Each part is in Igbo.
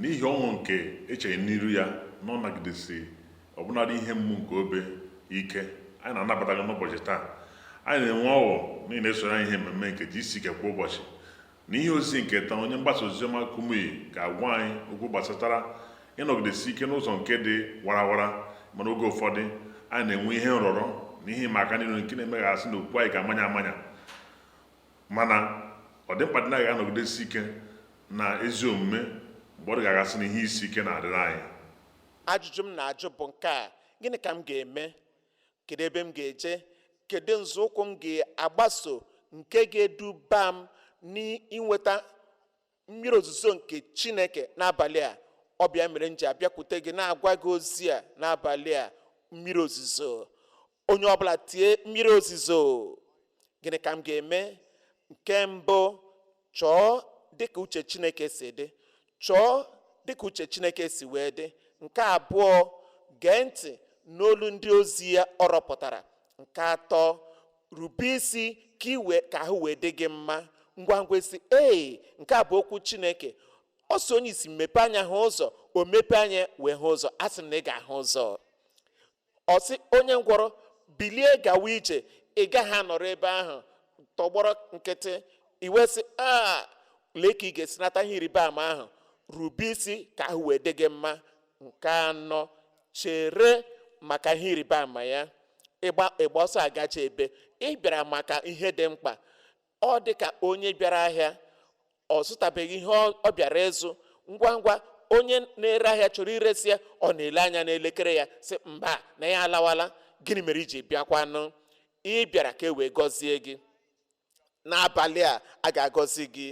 N'ihi ọṅụ nke echere n'iru ya na ọ nagidesi ọbụnadị ihe mgbu nke obe ike, anyị na-anabata gị n'ụbọchị taa. Anyị na-enwe ọṅụ na ị na-esoro anyị ihe mmemme nke GCK kwa ụbọchị. N'ihe ozizi nke taa, onye mgbasa oziọma Kumuyi ga-agwa anyị okwu gbasatara ịnọgidesi ike n'ụzọ nke dị warawara ị ma na oge ụfọdụ anyị na-enwe ihe nrọrọ na ihe ịma aka niile nke na-eme ka a sị na okwukwe anyị ga-amanya amanya. Mana, ọ dị mkpa dị na anyị ga-anọgidesi ike na ezi omume mgbe ọ dị ka a ga-asị na ihe isi ike na-adịrị anyị. Ajụjụ m na-ajụ bụ nke a, Gịnị ka m ga-eme? Kedu ebe m ga-eje? Kedu nzọụkwụ m ga-agbaso nke ga-eduba m n'inweta mmiri ozuzo nke chineke n'abalị a ọ bụ ya mere m ji abịakwute gị na-agwa gị ozi a n'abalị a mmiri ozuzo onye ọbụla tie mmiri ozuzo gịnị ka m ga-eme nke mbụ chọọ dịka uche chineke si dị chọọ dịka uche chineke si wee dị nke abụọ gee ntị n'olu ndị ozi ya ọ rọpụtara nke atọ rube isi ka i wee ka ahụ wee dị gị mma ngwa ngwa ị sị ee nke a bụ okwu chineke ọ sị onye isi mepe anya hụ ụzọ o mepe anya wee hụ ụzọ a sị m na ị ga-ahụ ụzọ ọ sị onye ngwọrọ bilie gawa ije ị gaghị anọrọ ebe ahụ tọgbọrọ nkịtị i wee sị a lee ka ị ga-esi nata ihe ịrịba ama ahụ rube isi ka ahụ wee dị gị mma nke anọ chere maka ihe ịrịba ama ya ịgba ịgba ọsọ agaje ebee ị bịara maka ihe dị mkpa ọ dị ka onye bịara ahịa ọ zụtabeghị ihe ọ ọ bịara ịzụ ngwa ngwa onye na-ere ahịa chọrọ iresi ya ọ na-ele anya n'elekere ya sị mba na ya alawala gịnị mere i ji bịakwanụ ị bịara ka e wee gọzie gị n'abalị a a ga-agọzi gị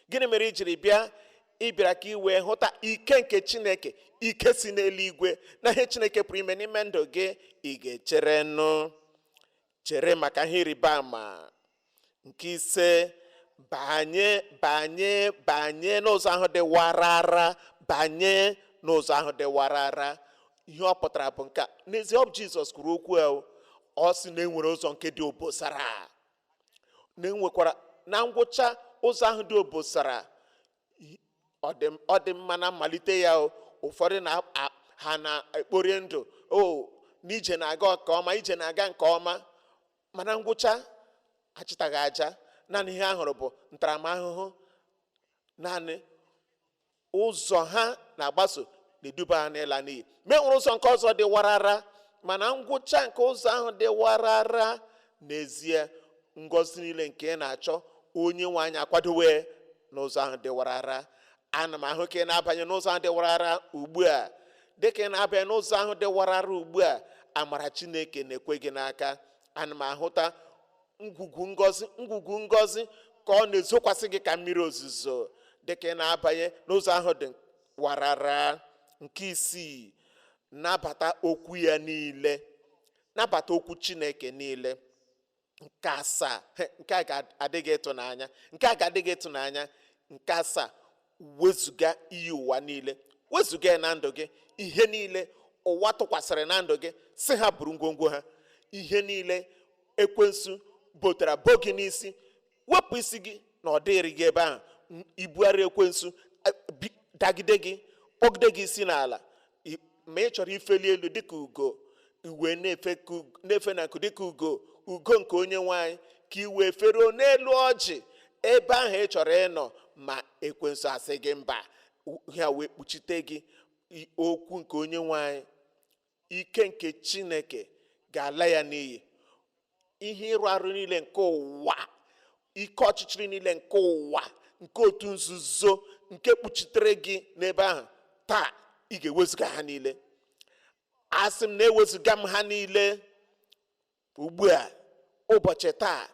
gịnị mere i jiri bịa ị bịara ka ị wee hụta ike nke chineke ike si n'eluigwe na ihe chineke pụrụ ime n'ime ndụ gị ị ga-echere nụ chere maka ihe ịrịba ama nke ise banye banye banye n'ụzọ ahụ dị warara banye n'ụzọ ahụ dị warara ihe ọ pụtara bụ nke a. n'ezie ọ bụ jizọs kwuru okwu a o. ọ sị na enwere ụzọ nke dị obosara na enwekwara na ngwụcha ụzọ ahụ dị obosara i- ọ dị m- ọ dị mma na mmalite ya o. ụfọdụ na a- ha na-ekpori ndụ o n'ije na-aga nke ọma ije na-aga nke ọma mana ngwụcha achịtaghị aja naanị ihe a hụrụ bụ ntaramahụhụ naanị ụzọ ha na-agbaso na-eduba ha n'ịla n'iyi ma e nwere ụzọ nke ọzọ dị warara mana ngwụcha nke ụzọ ahụ dị warara n'ezie ngọzi niile nke ị na-achọ onye nwe anyị akwadowe n'ụzọ ahụ dị warara ana m ahụ ka ị na-abanye n'ụzọ ahụ dị warara ugbu a dịka ị na-abanye n'ụzọ ahụ dị warara ugbu a amara chineke na-ekwe gị n'aka ana m ahụta ngwugwu ngọzi ngwugwu ngọzi ka ọ na-ezokwasị gị ka mmiri ozuzo dịka ị na-abanye n'ụzọ ahụ dị warara nke isii nabata okwu ya niile nabata okwu chineke niile nke asaa he, nke a ga-adị gị ịtụnanya nke a ga-adị gị ịtụnanya nke asaa wezụga iyi ụwa niile wezụga ya na ndụ gị ihe niile ụwa tụkwasịrị na ndụ gị sị ha buru ngwongwo ha ihe niile ekwensu botara bo gị n'isi wepụ isi gị na ọ dịrị gị ebe ahụ ibu arọ ekwensu dagide gị kpọgide gị isi n'ala ma ị chọrọ ifeli elu dịka ugo i wee na-efe na nku dịka ugo ugo nke onye nwe anyị ka i wee feruo n'elu ọjị ebe ahụ ị chọrọ ịnọ ma ekwensu asị gị mba ha wee kpuchite gị okwu nke onye nwe anyị ike nke chineke ga-ala ya n'iyi ihe ịrụ arụ niile nke ụwa ike ọchịchịrị niile nke ụwa nke otu nzuzo nke kpuchitere gị n'ebe ahụ taa ị ga-ewezụga ha niile asị m na-ewezụga m ha niile ugbu a ụbọchị taa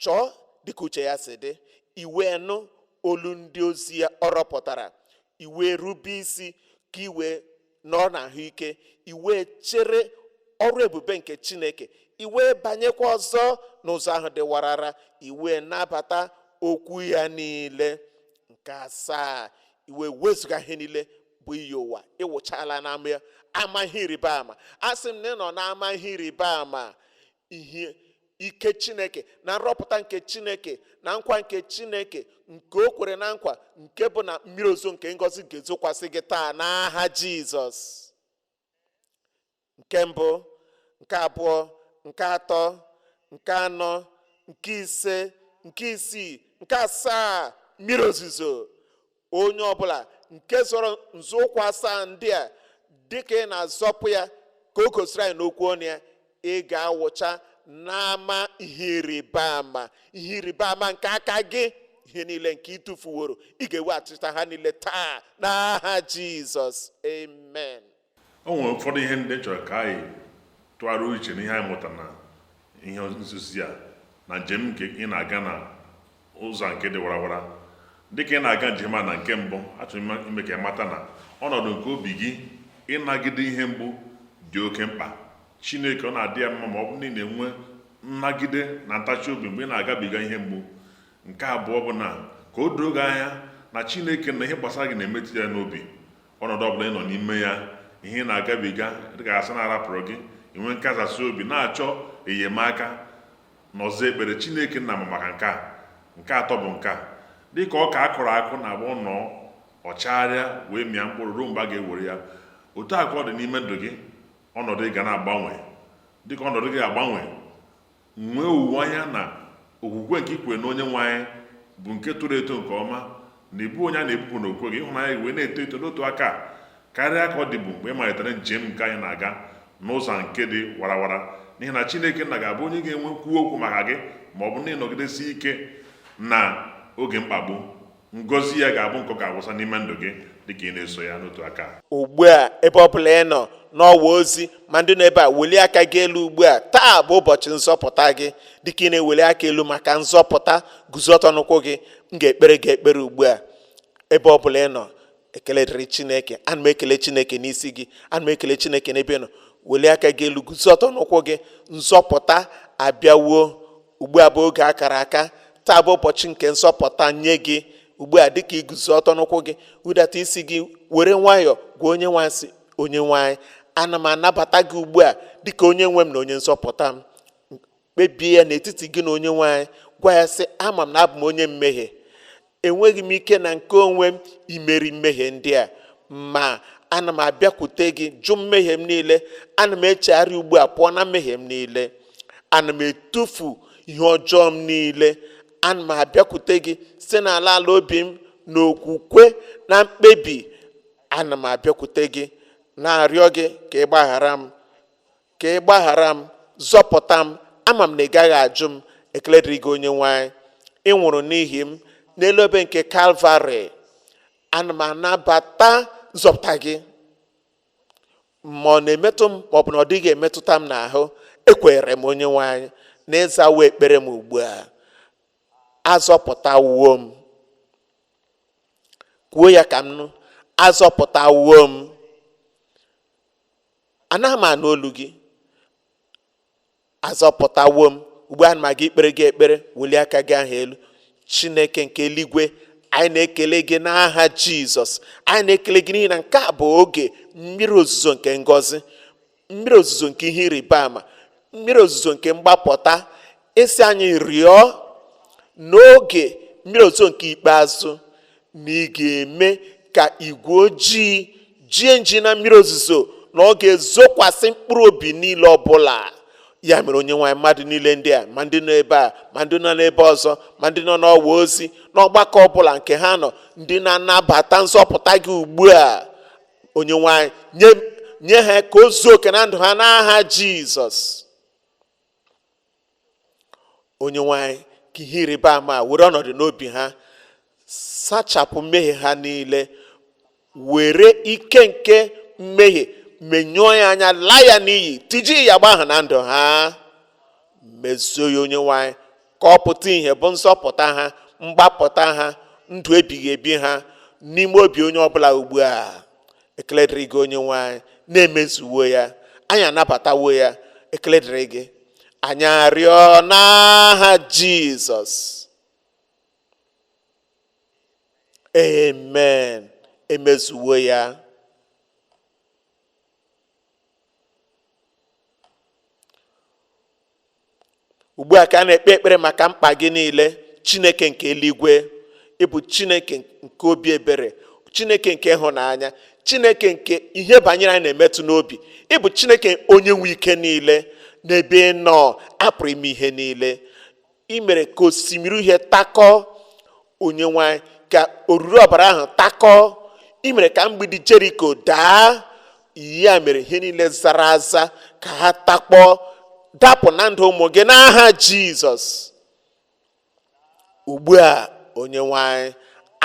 chọọ dịka uche ya si dị i wee nụ olu ndị ozi ya ọ rọpụtara i wee rube isi ka i wee nọrọ na ahụike i wee chere ọrụ ebube nke chineke i wee banyekwa ọzọ n'ụzọ ahụ dị warara i wee nabata okwu ya niile nke asaa i wee wezụga ihe niile bụ iyi ụwa ị wụchaala n'ama ya ama ihe ịrịba ama asị m na ị nọ n'ama ihe ịrịba ama ihe ike chineke na nrọpụta nke chineke na nkwa nke chineke nke o kwere na nkwa nke bụ na mmiri ozo nke ngọzi ga-ezokwasị gị taa n'aha jizọs nke mbụ nke abụọ nke atọ nke anọ nke ise nke isii nke asaa mmiri ozuzo onye ọbụla nke zọrọ nzọụkwụ asaa ndị a dịka ị na-azọpụ ya ka o gosiri anyị n'okwu ọnụ ya ị ga-awụcha n'ama ihe ịrịba ama ihe ịrịba ama nke aka gị ihe niile nke ị tụfuworo ị ga-eweghachita ha niile taa n'aha jizọs amen o nwere ụfọdụ ihe ndị m chọrọ ka anyị tụgharịa uche n'ihe anyị mụta na ihe nkuzi a na njem nke ị na-aga na ụzọ nke dị warawara dịka ị na-aga njem a na nke mbụ achọrọ m ime ka ị mata na ọnọdụ nke obi gị ịnagide ihe mgbu dị oke mkpa chineke ọ na-adị ya mma ma ọ bụ na ị na-enwe nnagide na ntachi obi mgbe ị na-agabiga ihe mgbu nke abụọ bụ na ka o doo gị anya na chineke na ihe gbasara gị na-emetụ ya n'obi ọnọdụ ọbụla ị nọ n'ime ya ihe ị na-agabiga dịka a sị na a rapụrụ gị inwe nkasi obi na-achọ enyemaka n'ụzọ ekpere chineke nna ma maka nke a nke atọ bụ nke a dịka ọka a kụrụ akụ na-agbanwo ọ chagharịa wee mịa mkpụrụ ruo mgbe a ga-ewere ya otu a ka ọ dị n'ime ndụ gị ọnọdụ ị ga na-agbanwe dịka ọnọdụ gị agbanwe nwee olileanya na okwukwe nke i kwere na onye nwe anyị bụ nke toro eto nke ọma na ị bụ onye a na-ebupụ n'okwukwe gị ịhụnanya gị wee na-eto eto n'otu aka karịa ka ọ dịbụ mgbe ị malitere njem nke anyị na-aga n'ụzọ nke dị warawara n'ihi na Chineke nna ga-abụ onye ga-enwe kwuo okwu maka gị ma ọ bụ na ị nọgidesi ike na oge mkpagbu ngozi ya ga-abụ nke ọ ga-awụsa n'ime ndụ gị dịka ị na-eso ya n'otu aka ugbu a ebe ọ bụla ị nọ n'ọwa ozi ma ndị nọ ebe a welie aka gị elu ugbu a taa bụ ụbọchị nzọpụta gị dịka ị na-eweli aka elu maka nzọpụta guzo ọtọ n'ụkwụ gị m ga-ekpere gị ekpere ugbu a ebe ọ bụla ị nọ ekele dịrị chineke ana m ekele chineke n'isi gị ana m ekele chineke n'ebe ị nọ welie aka gị elu guzo ọtọ n'ụkwụ gị nzọpụta abịawo ugbu a bụ oge akara aka taa bụ ụbọchị nke nzọpụta nye gị ugbu a dịka i guzo ọtọ n'ụkwụ gị hudata isi gị were nwayọọ gwa onye nwe anyị sị onye nwe anyị ana m anabata gị ugbu a dịka onye nwe m na onye nzọpụta m kpebie ya n'etiti gị na onye nwe anyị gwa ya sị ama m na abụ m onye mmehie enweghị m ike na nke onwe m imeri mmehie ndị a ma ana m abịakwute gị jụ mmehie m niile ana m echegharị ugbu a pụọ na mmehie m niile ana m etufu ihe ọjọọ m niile ana m abịakwute gị si n'ala ala obi m na okwukwe na mkpebi ana m abịakwute gị na-arịọ gị ka ị gbaghara m ka ị gbaghara m zọpụta m ama m na ị gaghị ajụ m ekele dịrị gị onye nwe anyị ị nwụrụ n'ihi m n'elu obe nke kalvarị ana m anabata nzọpụta gị ma ọ na-emetụ m ma ọ bụ na ọ dịghị emetụta m n'ahụ ekwere m onye nwe anyị na ị zawo ekpere m ugbu a azọpụtawo m kwuo ya ka m nụ azọpụtawo m anaghị m anụ olu gị azọpụtawo m ugbu a ana m aga ikpere gị ekpere welie aka gị ahụ elu chineke nke eluigwe anyị na-ekele gị n'aha jizọs anyị na-ekele gị n'ihi na nke a bụ oge mmiri ozuzo nke ngọzi mmiri ozuzo nke ihe ịrịba ama mmiri ozuzo nke mgbapụta ị sị anyị rịọ n'oge mmiri ozuzo nke ikpeazụ na ị ga-eme ka igwe ojii jie nji na mmiri ozuzo na ọ ga-ezokwasị mkpụrụ obi niile ọbụla ya mere onye nwe anyị mmadụ niile ndị a ma ndị nọ ebe a ma ndị nọ n'ebe ọzọ ma ndị nọ n'ọwa ozi n'ọgbakọ ọbụla nke ha nọ ndị na-anabata nzọpụta gị ugbu a onye nwe anyị nye ha ka o zuo oke na ndụ ha n'aha jizọs onye nwe anyị ka ihe ịrịba ama were ọnọdụ n'obi ha sachapụ mmehie ha niile were ike nke mmehie menyụọ ya anya laa ya n'iyi tijie agbụ ahụ na ndụ ha mezuo ya onye nwe anyị ka ọ pụta ihe bụ nzọpụta ha mgbapụta ha ndụ ebighị ebi ha n'ime obi onye ọbụla ugbu a ekele dịrị gị onye nwe anyị na emezuwo ya anyị anabatawo ya ekele dịrị gị anyị arịọ n'aha jizọs amen emezuwo ya ugbu a ka a na-ekpe ekpere maka mkpa gị niile chineke nke eluigwe ị bụ chineke nke obi ebere chineke nke ịhụnanya chineke nke ihe banyere anyị na-emetụ n'obi ị bụ chineke onye nwe ike niile n'ebe ị nọ a pụrụ ime ihe niile i mere ka osimiri uhie takọọ onye nwe anyị ka oruru ọbara ahụ takọọ i mere ka mgbidi jeriko daa ya mere ihe niile zara aza ka ha takpọọ dapụ na ndụ ụmụ gị n'aha jizọs ugbu a onye nwe anyị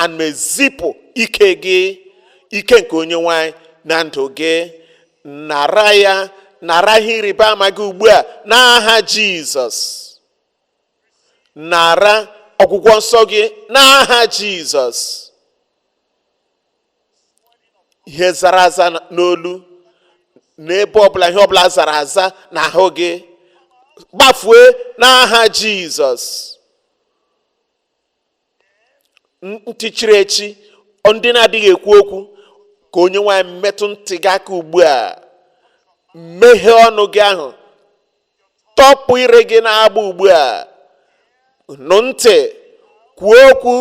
ana m ezipụ ike gị ike nke onye nwe anyị na ndụ gị nara ya nara ihe ịrịba ama gị ugbu a n'aha jizọs nara ọgwụgwọ nsọ gị n'aha jizọs ihe zara aza n'olu n'ebe ọbụla ihe ọbụla zara aza n'ahụ gị gbafue n'aha jizọs ntị chiri echi ndị na-adịghị ekwu okwu ka onye nwe anyị metụ ntị gị aka ugbu a meghee ọnụ gị ahụ tọpụ ire gị na-agba ugbu a nụ ntị kwuo okwu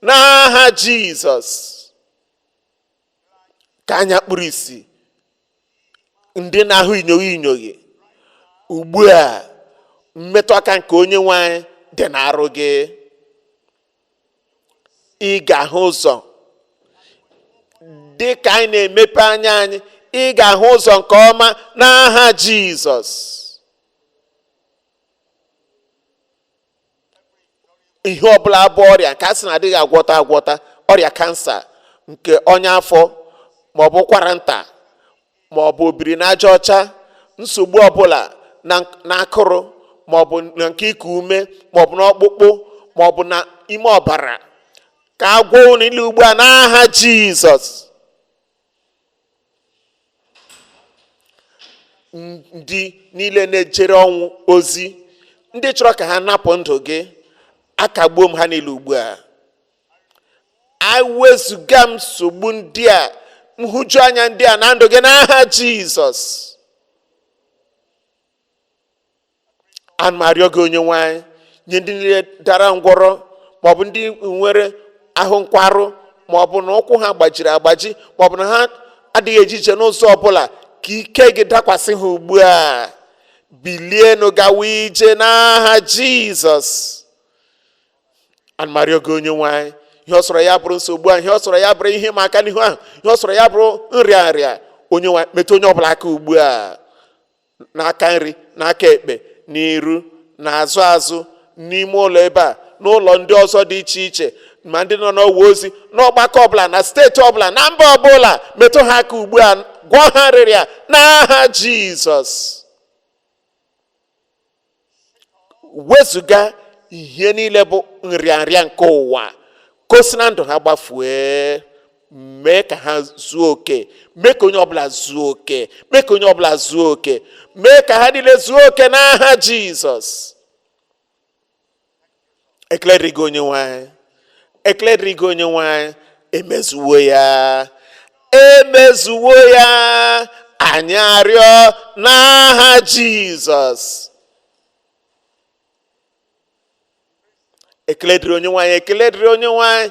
n'aha jizọs ka anya kpuru isi ndị na-ahụ inyoghi inyoghi ugbu a mmetụ aka nke onye nwe anyị dị n'arụ gị ị ga-ahụ ụzọ dị ka anyị na-emepe anya anyị ị ga-ahụ ụzọ nke ọma n'aha Jizọs ihe ọbụla bụ ọrịa nke a sị na adịghị agwọta agwọta ọrịa kansa nke ọnya afọ ma ọ bụ ụkwara nta ma ọ bụ obiri na aja ọcha nsogbu ọbụla na akụrụ ma ọ bụ na nke iku ume ma ọ bụ n'ọkpụkpụ ma ọ bụ na ime ọbara ka a gwọọ unu niile ugbu a n'aha jizọs ndị niile na-ejere ọnwụ ozi ndị chọrọ ka ha napụ ndụ gị akagbuo m ha niile ugbu a ewezụga m nsogbu ndị a nhụjuanya ndị a na ndụ gị n'aha jizọs ana m arịọ gị onye nwe anyị nye ndị niile dara ngwọrọ maọbụ ndị nwere ahụ nkwarụ maọbụ na ụkwụ ha gbajiri agbaji maọbụ na ha adịghị eje ije n'ụzọ ọbụla ka ike gị dakwasị ha ugbu a bilienụ gawa ije n'aha jizọs ana m arịọ gị onye nwe anyị ihe ọ sọrọ ya bụrụ nsogbu ahụ ihe ọ sọrọ ya bụrụ ihe ịma aka n'ihu ahụ ihe ọ sọrọ ya bụrụ nrịa nrịa onye nwe anyị metụ onye ọbụla aka ugbu a n'aka nri n'aka ekpe n'iru n'azụ azụ n'ime ụlọ ebe a n'ụlọ ndị ọzọ dị iche iche ma ndị nọ n'ọwa ozi n'ọgbakọ ọbụla na steeti ọbụla na mba ọbụla metụ ha aka ugbu a gwọọ ha nrịrịa n'aha jizọs wezụga ihe niile bụ nrịanrịa nke ụwa ka o si na ndụ ha gbafue mee ka ha zuo oke mee ka onye ọbụla zuo oke mee ka onye ọbụla zuo oke mee ka ha niile zuo oke n'aha jizọs ekele dịrị gị onye nwe anyị ekele dịrị gị onye nwe anyị emezuwo ya emezuwo ya anyị arịọ n'aha jizọs ekele dịrị onye nwe anyị ekele dịrị onye nwe anyị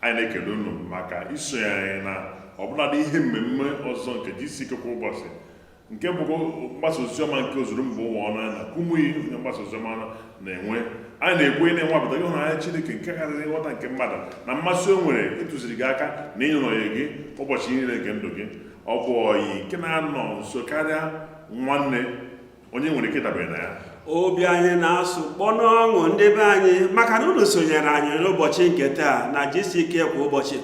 anyị na-ekele unu maka isonye anyị na ọbụladị ihe mmemme ọzọ nke GCK kwa ụbọchị nke bụkwa mgbasa oziọma nke ozuru mba ụwa ọnụ ya na kumuyi onye mgbasa oziọma na-enwe anyị na-ekwenye na ị nwapụtago ịhụnanya Chineke nke karịrị nghọta nke mmadụ na mmasị o nwere ịtụziri gị aka na ịnyụnọnye gị ụbọchị niile nke ndụ gị ọ bụ oyi nke na-anọ nso karịa nwanne onye nwere ike ịdabere na ya obi anyị na-asụ kpọnụ ọṅụ ndị be anyị maka na unu sonyere anyị n'ụbọchị nke taa na gck kwa ụbọchị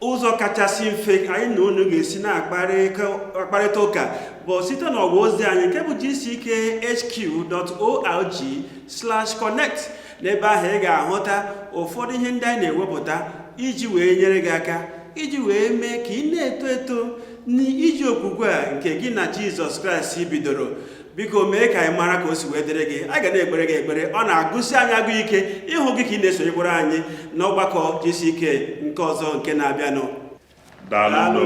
ụzọ kachasị mfe anyị na unu ga-esi na-akparịta ụka bụ site n'ọgwa ozi anyị nke bụ gckhq.org/connect n'ebe ahụ ị ga-ahụta ụfọdụ ihe ndị anyị na-ewepụta iji wee nyere gị aka iji wee mee ka ị na-eto eto n'ije okwukwe a nke gị na jizọs kraịst bidoro biko mee ka anyị mara ka o si wee dịrị gị a ga na-ekpere gị ekpere ọ na-agụsi anyị agụ ike ịhụ gị ka ị na-esonyekwara anyị n'ọgbakọ gck nke ọzọ nke na-abịanụ daalụ